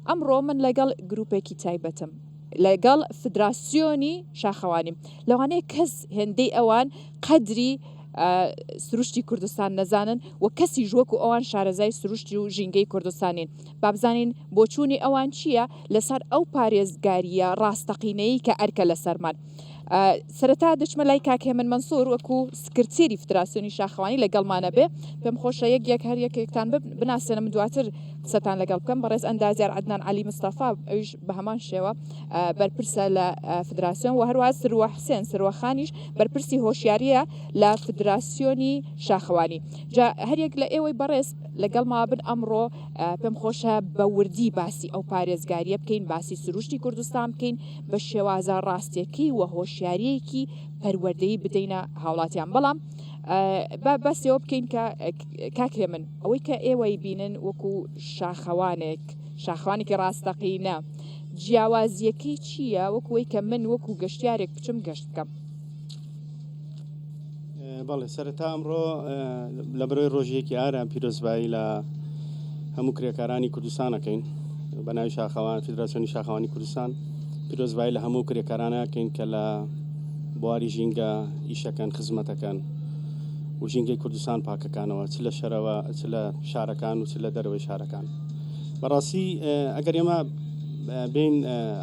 ئەمڕۆ من لەگەڵ گروپێکی تایبەتم لەگەڵ فدراسیۆنی شاخەوانیم لەوانەیە کەس هێندەی ئەوان قەدری سروشتی کوردستان نەزانن و کەسی ژوەکو ئەوان شارەزای سروشتی و ژینگەی کوردستانین بابزانین بۆچوونی ئەوان چییە لەسەر ئەو پارێزگاریە ڕاستەقینەی کە ئەرکە لەسەرمان سەرەتا دەچمە لای کاک هێمن مەنسور وەکو سکرتێری فدراسیۆنی شاخەوانی لەگەڵمانە بێ پێم خۆشە یەک یەک هەر یەکێکتان بناسێنم دواتر قسەتان لەگەڵ بکەم بەڕێز ئەندازیار عدنان علی مستەفا ئەوش بە هەمان شێوە بەرپرسە لە فدراسیۆن و هەروە سروە حسێن سروەخانیش بەرپرسی هۆشیاریە لە فدراسیۆنی شاخەوانی جا هەریەک لە ئێوەی بەڕێز لەگەڵ ما بن ئەمڕۆ پێم خۆشە بە وردی باسی ئەو پارێزگاریە بکەین باسی سروشتی کوردستان بکەین بە شێوازە ڕاستێکی و هۆشیاریەکی پەروەردەی بدەینە هاوڵاتیان بەڵام بەسەوە بکەین کە کاکێ من ئەوەی کە ئێوەی بینن وەکو شاخەوانێک شاخوانێکی ڕاستەقینە جیاوازیەکەی چییە وەکوی کە من وەکو گەشتارێک بچم گەشت بکەم بەڵێ سەرەتا ئەمڕۆ لە بەرەوەی ڕۆژیەکی ئارام پیرۆزبایی لە هەموو کرێکارانی کوردستانەکەین بە ناوی شاخەوان فیدراسیۆنی شاخەوانی کوردستان پیرۆزبایی لە هەموو کرێکارانەکەین کە لە بواری ژینگە ئیشەکەن خزمەتەکەن و ژینگەی کوردستان پاکەکانەوە چ لە شەرەوە چ لە شارەکان و چ لە دەرەوەی شارەکان بەڕاستی ئەگەر ئێمە بین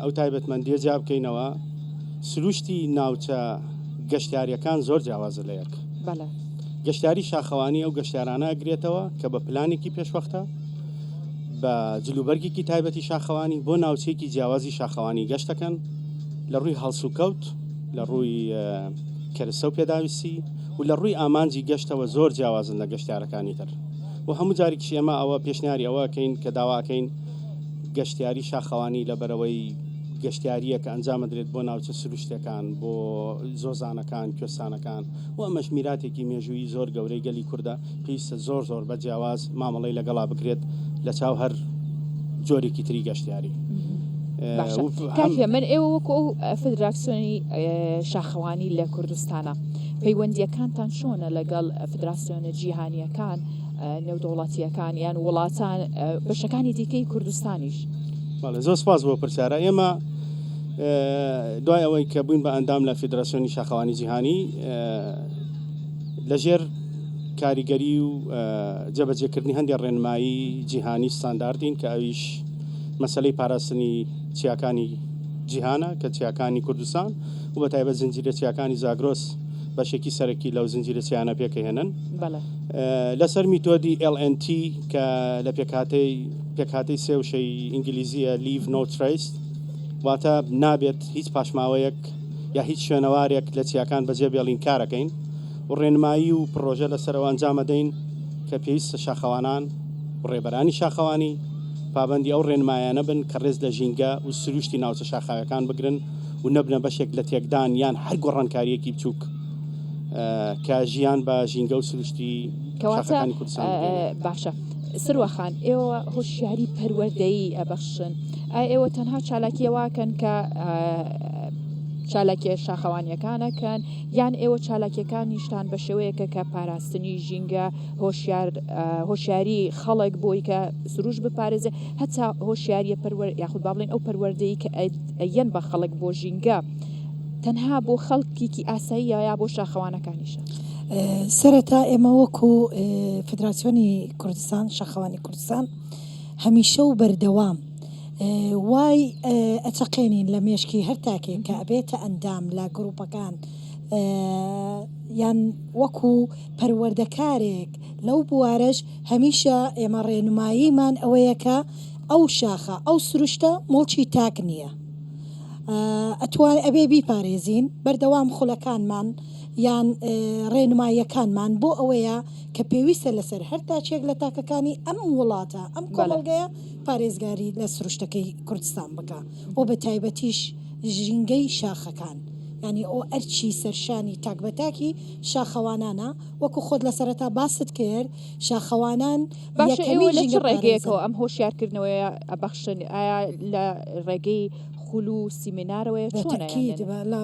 ئەو تایبەتمەندیە جیا بکەینەوە سروشتی ناوچە گەشتیاریەکان زۆر جیاوازە لە یەک. بەڵێ. گەشتیاری شاخەوانی ئەو گەشتیارانە ئەگرێتەوە کە بە پلانێکی پێشوەختە بە جلوبەرگێکی تایبەتی شاخەوانی بۆ ناوچێکی جیاوازی شاخەوانی گەشتەکەن لە ڕووی هەڵسوکەوت لە ڕووی کەرسە و پێداویستی و لە ڕووی ئامانجی گەشتەوە زۆر جیاوازن لە گەشتارەکانی تر و هەموو جارێکیش ئێمە ئەوە پێشنیاری ئەوەکەین کە داواکەین گەشتیاری شاخەوانی لە بەرەوەی گەشتیارییە کە ئەنجامەدرێت بۆ ناوچە سروشتیەکان، بۆ زۆزانەکان، کوێستانەکان و ئەمەش میراتێکی مێژوویی زۆر گەورەی گەلی کوردە، پێویستە زۆر زۆر بە جیاواز مامەڵەی لەگەڵا بکرێت لە چاو هەر جۆرێکی تری گەشتیاری. کاکە من ئێوە وەکو ئەو فدراسیۆنی شاخەوانی لە کوردستانە پەیوەندیەکانتان چۆنە لەگەڵ فدراسیۆنە جیهانیەکان نێودەوڵەتییەکان یان وڵاتان بەشەکانی دیکەی کوردستانیش زۆر سپاس بۆ پرسیارە ئێمە دوای ئەوەی کە بووین بە ئەندام لە فیدراسیۆنی شاخەوانی جیهانی لەژێر کاریگەری و جەبەجێکردنی هەندێک ڕێنمایی جیهانی ستانداردین کە ئەویش مەسلەی پاراستنی چیاکانی جیهانە کە چیاکانی کوردستان و بە تایبەت زنجیرە چیاکانی زاگرۆس بەشێکی سەرەکی لەو زنجیرە چیانە پێکەهێنن لەسەر میتۆدی LNT کە لە پێکهاتەی پێکهاتەی سێ وشەی ئینگلیزیە لیڤ نۆ تریس واتە نابێت هیچ پاشماوەیەک یا هیچ شوێنەوارێک لە چیاکان بەجێ بێڵین کارەکەین و ڕێنمایی و پرۆژە لەسەرەوە ئەنجامەدەین کە پێویستە شاخەوانان و ڕێبەرانی شاخەوانی پابندی ئەو ڕێنمایانە بن کە ڕێز لە ژینگە و سروشتی ناوچە شاخاوەکان بگرن و نەبنە بەشێک لە تێکدان یان هەر گۆڕانکاریەکی بچووک کە ژیان بە ژینگە و سروشتی کەواتەکانی کوردستان باشە. سروەخان ئێوە هۆشیاری پەروەردەیی ئەبەخشن ئا ئێوە تەنها چالاکیەوەکەن کە چالاکیە شاخەوانیەکانەکەن یان ئێوە چالاکیەکان نیشتان بە شێوەیەکە کە پاراستنی ژینگە هۆشیاری خەڵک بۆی کە سروش بپارێزێ هەتا هۆشیاریە پەروەر یاخود باڵێن ئەو پەروەردەی کە ئەیەن بە خەڵک بۆ ژینگە. تەنها بۆ خەڵکیکی ئاساییە یا بۆ شاخەوانەکانیشە؟ سەرەتا ئێمە وەکو فدراسیۆنی کوردستان شەخەوانی کوردستان هەمیشە و بەردەوام وای ئەچەقێنین لە مێشکی هەر تاکێک کە ئەبێتە ئەندام لە گروپەکان یان وەکو پەروەردەکارێک لەو بوارەش هەمیشە ئێمە ڕێنماییمان ئەوەیەکە ئەو شاخە ئەو سروشتە مڵکی تاک نییە. ئەتوان ئەبێ بیپارێزین بەردەوام خولەکانمان یان ڕێنماییەکانمان بۆ ئەوەیە کە پێویستە لەسەر هەر تاچێک لە تاکەکانی ئەم وڵاتە ئەم بەڵێ. کۆمەڵگەیە پارێزگاری لە سروشتەکەی کوردستان بکا و بە تایبەتیش ژینگەی شاخەکان یانی ئەو ئەرکی سەرشانی تاک بە تاکی شاخەوانانە وەکو خۆت لە سەرەتا باست کرد شاخەوانان باشە ئێوە لە چ ڕێگەیەکەوە ئەم هۆشیارکردنەوەیە ئەبەخشن ئایا لە ڕێگەی خول و سیمینارەوەی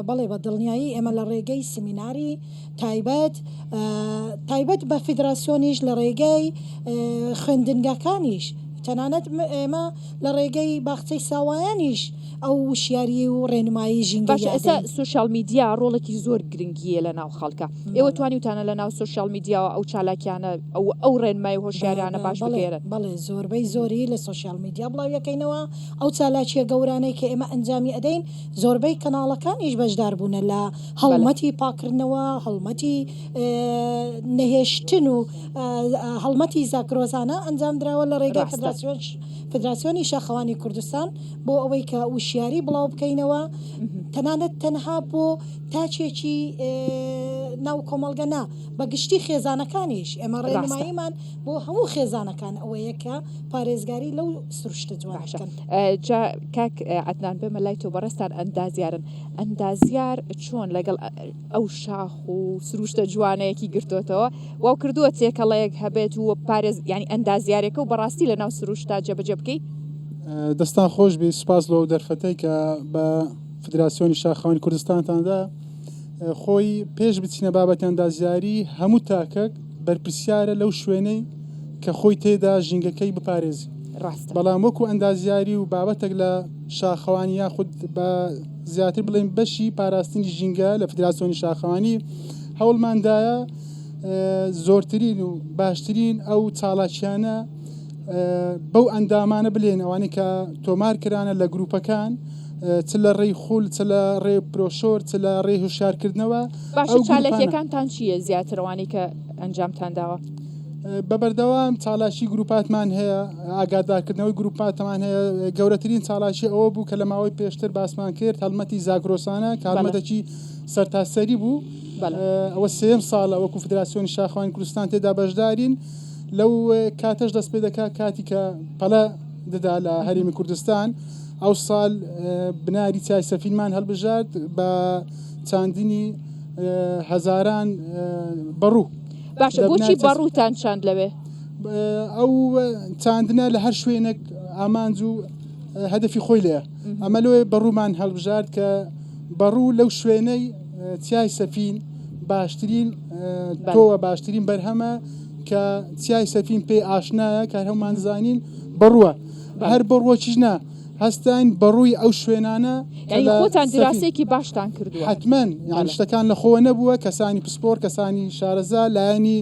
بەڵێ بە دڵنیایی ئێمە لە ڕێگەی سیمیناری تایبەت تایبەت بە فیدراسیۆنیش لە ڕێگەی خوێندنگەکانیش تەنانەت ئێمە لە ڕێگەی باخچەی ساوایانیش ئەو وشیاری و ڕێنمایی ژینگە باشە ئێستا سوشیال میدیا ڕۆڵێکی زۆر گرنگیە لە ناو خەڵکە ئێوە توانیوتانە لە ناو سوشیال میدیاوە ئەو چالاکیانە ئەو ئەو ڕێنمای هۆشیارانە باش بگێرن بەڵێ زۆربەی زۆری لە سوشیال میدیا بڵاویەکەینەوە ئەو چالاکیە گەورانەی کە ئێمە ئەنجامی ئەدەین زۆربەی کەناڵەکانیش بەشدار بوونە لە هەڵمەتی پاکردنەوە هەڵمەتی نەهێشتن و هەڵمەتی زاکرۆزانە ئەنجام درراوە لە ڕێگەی فدراسیۆنی شەخەوانی کوردستان بۆ ئەوەی کە وشیاری بڵاو بکەینەوە تەنانەت تەنها بۆ تاچێکی ناو کۆمەلگە نا بە گشتی خێزانەکانیش ئێمە ڕێنماییمان بۆ هەموو خێزانەکان ئەوەیە کە پارێزگاری لەو سروشتە جوانشکن جا کاک عدنان بێمە لای تۆ بەڕێستان ئەندازیارن ئەندازیار چۆن لەگەڵ ئەو شاخ و سروشتە جوانەیەکی گرتوتەوە وەو کردووە تێکەڵەیەک هەبێت و پارێز ینی ئەندازیارەکە و بەڕاستی لە ناو سروشتا جەبجە بکەیت دەستان خۆش بی سوپاس لەو دەرفەتەی کە بە فدراسیۆنی شاخوانی کوردستانتاندا خۆی پێش بچینە بابەتی ئەندازیاری هەموو تاکەک بەرپسیارە لەو شوێنەی کە خۆی تێدا ژینگەکەی بپارێزی بەڵام وەکو ئەندازیاری و بابەتێک لە شاخەوانی یاخود بە زیاتر بڵێین بەشی پاراستنی ژینگە لە فدراسیۆنی شاخەوانی هەوڵماندایە زۆرترین و باشترین ئەو چاڵاکیانە بەو ئەندامانە بلێن ئەوانەی کە تۆمار کرانە لە گروپەکان چ لە ڕێی خول چ لە ڕێ پرۆشۆر چ لە ڕێ هوشارکردنەوە باشە چالەکیەکانتان چییە زیاترەوانی کە ئەنجامتان داوە بە بەردەوام چالاکی گروپاتمان هەیە ئاگادارکردنەوەی گروپاتمان هەیە گەورەترین چالاکی ئەوە بوو کە لە ماوەی پێشتر باسمان کرد هەڵمەتی زاگرۆسانە کارمەتەکی سەرتاسەری بوو ئەوە سێم ساڵە وەکو فدراسیۆنی شاخوانی کوردستان تێدا بەشدارین لەو کاتەش دەست پێ دەکات کاتی کە پەلە دەدا لە هەرمی کوردستان ئەو ساڵ بناری چای سەفینمان هەڵبژارد بە چاندنی هەزاران بەڕوو باشە بۆچی بەڕووتان چاند لەوێ؟ ئەو چاندنە لە هەر شوێنێک ئامانج و هەدەفی خۆی لێە ئەمە لۆێ بەڕوومان هەڵبژارد کە بەڕوو لەو شوێنەی چیای سەفین باشترین تۆوە باشترین بەرهەمە کە چیای سەفین پێی ئاشنایە کە هەمانزانین بڕوە هەر بڕوەکیش نا هەستاین بەڕووی ئەو شوێنانە یعنی خۆتان دراسەیەکی باشتان کردووە حتمەن یان شتەکان لە خۆوە نەبووە کەسانی پسپۆر کەسانی شارەزا لایەنی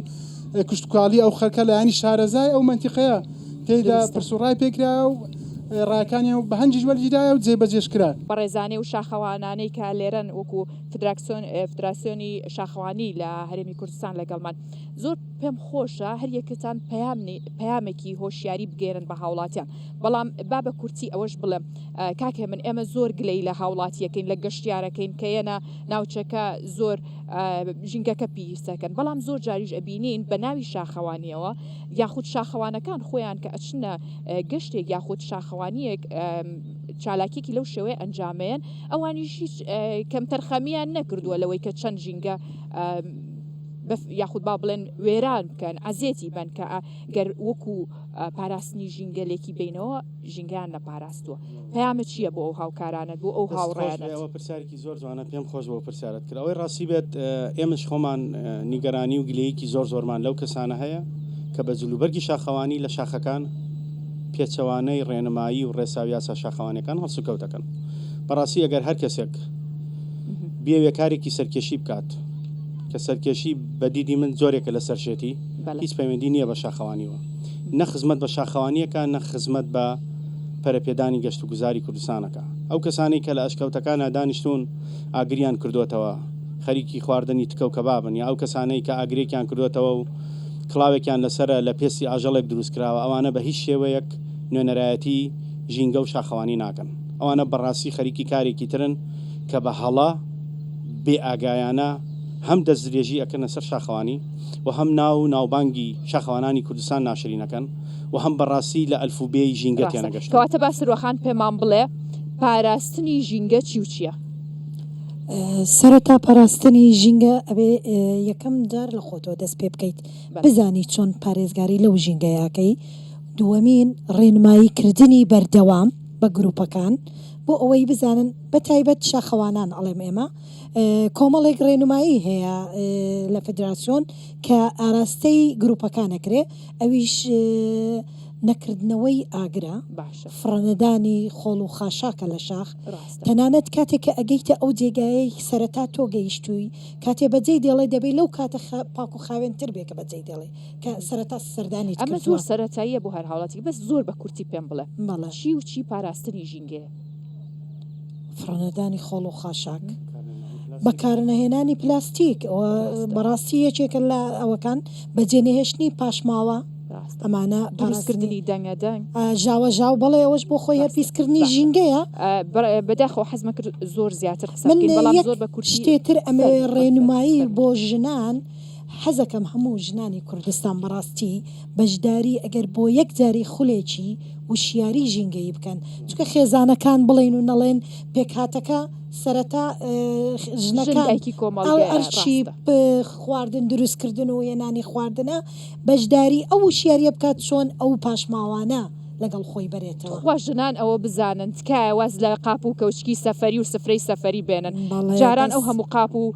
کوشتکاڵی ئەو خەرکە لایانی شارەزای ئەو منتیقەیە تێدا پرسوڕای پێکرا و ڕاکانیان و بەهەنجیش وەرگیرایە و جێبەجێش کرا. بەڕێزانەی و شاخەوانانەی کە لێرەن وەکو فدراسیۆنی شاخەوانی لە هەرێمی کوردستان لەگەڵمان زۆر پێم خۆشە هەریەکەتان پەیامێکی هۆشیاری بگەێنن بە هاوڵاتیان. بەڵام با بە کورتی ئەوەش بڵێم کاکێ من ئێمە زۆر گلەی لە هاوڵاتیەکەین لە گەشتیارەکەین کە یەنە ناوچەکە زۆر ژینگەکە پیسەکەن بەڵام زۆر جاریش ئەبینین بە ناوی شاخەوانیەوە یاخود شاخەوانەکان خۆیان کە ئەچنە گەشتێک یاخود شاخەوانیەک چالاکیەکی لەو شێوەیە ئەنجامەیەن ئەوانیش هیچ کەمتەرخەمیان نەکردووە لەوەی کە چەند ژینگە یاخود با بڵێن وێران بکەن عزیێتی بن کە گەر وەکو پاراستنی ژینگەلێکی بینەوە ژینگەیان لە پاراستووە پامە چییە بۆ ئەو هاوکارانت بۆ ئەو هاوڕێەوە پرسیارکی زۆر جوانە پێم خۆش بۆ پرسیارت کرد ئەوەی ڕاستی بێت ئێمەش خۆمان نیگەرانی و گلەیەکی زۆر زۆرمان لەو کەسانە هەیە کە بە جلوبەرگی شاخەوانی لە شاخەکان پێچەوانەی ڕێنمایی و ڕێساویاسا شاخەوانەکان هەڵسوکەوت دەکەن بەڕاستی ئەگەر هەر کەسێک بێوێ کارێکی سەرکێشی بکات کە سەرکێشی بەدیدی من زۆرێکە لە سەرشێتی هیچ پەیوەندی نییە بە شاخەوانییەوە. نە خزمەت بە شاخەوانی ئەکا نە خزمەت بە پەرەپێدانی گەشتوگوزاری کوردستان ئەکا. ئەو کەسانەی کە لە ئەشکەوتەکانا دانیشتوون ئاگریان کردۆتەوە خەریکی خواردنی تکە و کەبابن یا ئەو کەسانەی کە ئاگرێکیان کردۆتەوە و کڵاوێکیان لەسەرە لە پێستی ئاژەڵێک دروست کراوە ئەوانە بە هیچ شێوەیەک نوێنەرایەتی ژینگە و شاخەوانی ناکەن. ئەوانە بەڕاستی خەریکی کارێکی ترن کە بە هەڵە بێ ئاگایانە هەم دەستدرێژی ئەکەنە سەر شاخەوانی، و هەم ناو و ناوبانگی شاخەوانانی کوردستان ناشرینەکەن و هەم بە ڕاستی لە ئەلف و بێی ژینگە تێنەگەشتوون. ڕاستە. کەواتە با سروەخان پێمان بڵێ پاراستنی ژینگە چی و چییە؟ سەرەتا پاراستنی ژینگە ئەبێ یەکەم جار لە خۆتەوە دەست پێ بکەیت. بزانی چۆن پارێزگاری لەو ژینگەیە ئەکەی. دووەمین، ڕێنمایی کردنی بەردەوام بە گرووپەکان بۆ ئەوەی بزانن بە تایبەت شاخەوانان ئەڵێم ئێمە، کۆمەڵێک ڕێنمایی هەیە لە فدراسیۆن کە ئاراستەی گروپەکان ئەکرێ ئەویش نەکردنەوەی ئاگرە باشە فڕەنەدانی خۆڵ و خاشاکە لە شاخ ڕاستە تەنانەت کاتێک کە ئەگەیتە ئەو جێگایەی سەرەتا تۆ گەیشتووی کاتێ بەجێی دێڵێ دەبێ لەو کاتە خا پاک و خاوێنتر بێ کە بەجێی دێڵێ کە سەرەتا سەردانیت ئەمە زۆر کردووە سەرەتاییە بۆ هەر هاوڵاتیک بەس زۆر بە کورتی پێم بڵێ بەڵێ چی و چی پاراستنی ژینگەیە. فڕێنەدانی خۆڵ و خاشاک بەکارنەهێنانی پلاستیک ئەوە بەڕاستی یەکێکە لە ئەوەکان بەجێنەهێشتنی پاشماوە ئەمانە پاراستکردنی دەنگە دەنگ ژاوە ژاو بەڵێ ئەوەش بۆ خۆی هەرپیسکردنی ژینگەیە بەداخۆ حەزمە کرد زۆر زیاتر من بەڵام زۆر بە کوشتێتر ئەمە ڕێنمایی بۆ ژنان حەزەکەم هەموو ژنانی کوردستان بەڕاستی بەشداری ئەگەر بۆ یەک جاری خولێکی وشیاری ژینگەیی بکەن چونکە خێزانەکان بڵێن و نەڵێن پێکهاتەکە سەرەتا ژنەکایکی کۆمەڵەرچی خواردن دروستکردن و هێنانی خواردنە بەشداری ئەو وشیاریە بکات چۆن ئەو پاشماوانە لەگەڵ خۆی بەرێتەوە خوا ژنان ئەوە بزانن تکایە واز لە قاپ و کەوچکی سەفری و سفرەی سەفری بێنن جاران ئەو هەموو قاپ و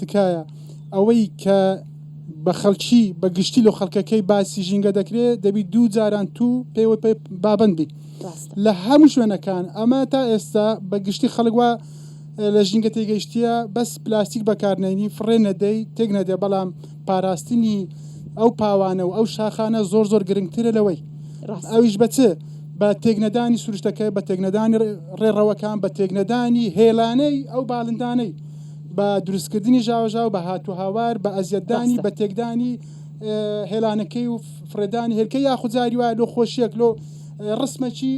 تکایە ئەوەی کە بە خەڵکی بە گشتی لە خەڵکەکەی باسی ژینگە دەکرێت دەبی دوو جاران تو پێوە پێ بابند بی لە هەموو شوێنەکان ئەمە تا ئێستا بە گشتی خەڵک وە لە ژینگە تێگەیشتە بەس پلاستیک بەکارنەینی فڕێ نەدەی تێک نەدە بەڵام پاراستنی ئەو پاوانە و ئەو شاخانە زۆر زۆر گرنگترە لەوەی ئەویش بە چ بە تێکنەدانی سروشتەکە بە تێکنەدانی ڕێڕەوەکان بە تێکنەدانی هێلانەی ئەو باڵندانەی بە دروستکردنی ژاوەژاو بە هات و هاوار بە ئەزیەتدانی بە تێکدانی هێلانەکەی و فرێدانی هێلکە یاخود جاری وایە لۆ خۆشیەک لۆ ڕسمەکی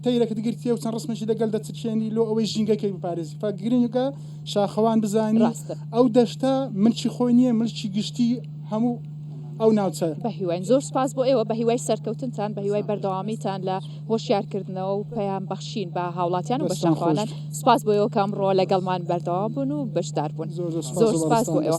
تەیرەکە دگرتیە و چەند ڕسمەشی لەگەل دەچچێنی لۆ ئەوەی ژینگەکەی بپارێزی فا گرنگەکە شاخەوان بزانانی ئەو دەشتا ملکی خۆی نییە ملکی گشتی هەموو ئەو ناوچە بە هیواین زۆر سپاس بۆ ئێوە بە هیوای سەرکەوتنتان بە هیوای بەردەوامیتان لە هۆشیارکردنەوە و پەیام بەخشین بە هاوڵاتیان و بەشدارخوازان سپاس بۆ ئێوە کە ئەمڕۆ لەگەڵمان بەردەوام بوون و بەشدار بوون زۆر سپاس بۆ ئێوە.